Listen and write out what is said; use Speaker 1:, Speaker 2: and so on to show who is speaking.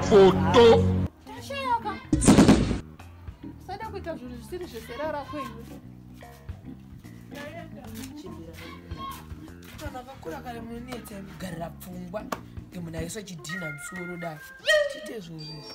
Speaker 1: foto tashayaka
Speaker 2: usada kuita zvinhu zvisiri zvesera rako
Speaker 3: iwe vakakura kare munonetsa kugarira pfungwa ngemunhu aisa chidhina musoro dai chiite zvinhu zvizvi